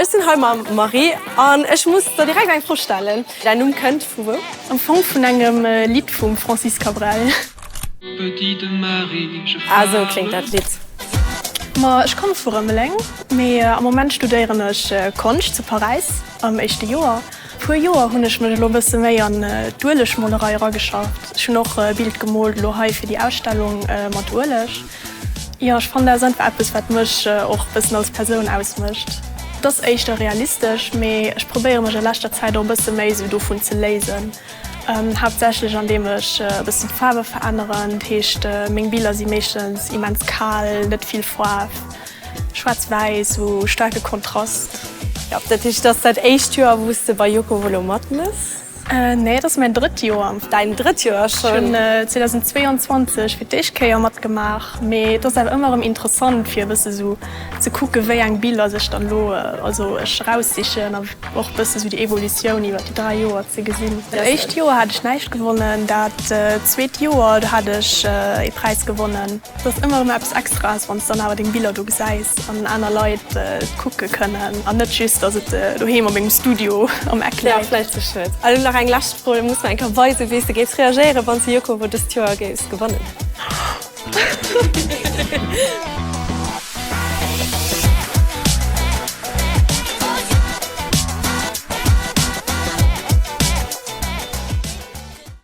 Ech sinn hei mam Marie an ech muss der direkt eng Fro stellen. Däin Numm kënnt vu wou? Am Fong vun engem Lidd vum Francis Cabrel. Ah, esou kléngt dat Lidd. Ma ech komme vu Rëmeleng, mee am Moment studéieren ech Konscht zu Paräis am éischte Joer. Puer Joer hunn ech mech elo bësse méi an d'Uelegmolerei erageschafft. Ech hunn och e Bild gemoolt elo hei fir déi Ausstellung mat Ueleg. Jo, ech fannen dat ass einfach eppes wat mech och bëssen als Persoun ausmécht. Et ass éischter realistesch, mee ech probéiere mech a leschter Zäit och e bësse méi esou dovun ze léisen. Haaptsächlech an deem ech e bëssen d'Faarwe veränneren, dat heescht meng Biller si meeschtens immens kal, net vill Faarf, schwaarz wäiss u staarke Kontrast. Jo, dat heescht et ass dat éischt Joer wou s de bei Yoko Volo matmëss? Nee, et ass mäin drëtt Joer. Däin drëtt Joer schonn? Ech hunn 2022 fir d'éischt Kéier matgemaach, mee et ass awer ëmmer erëm interessant fir e bësse sou ze kucken, wéi eng Biller sech dann elo, also ech, eraussichen a och e bësse sou déi Evolutioun iwwer déi dräi Joer ze gesinn. Dat éischt Joer hat ech näischt gewonnen, dat zweet Joer, do hat ech ee Präis gewonnen. Et ass ëmmer erëm eppes Extraes, wann s de dann awer deng Biller do gesäis an aner Leit kucke kënnen an net just, datt et doheem a mengem Studio am Eck läit. Vläicht ze schued. Elo nach eng lescht Fro, Muss mer eng Kéier weisen, wéi s de géifs reagéieren, wann s de Yoko-Wo dëst Joer géifs gewannen?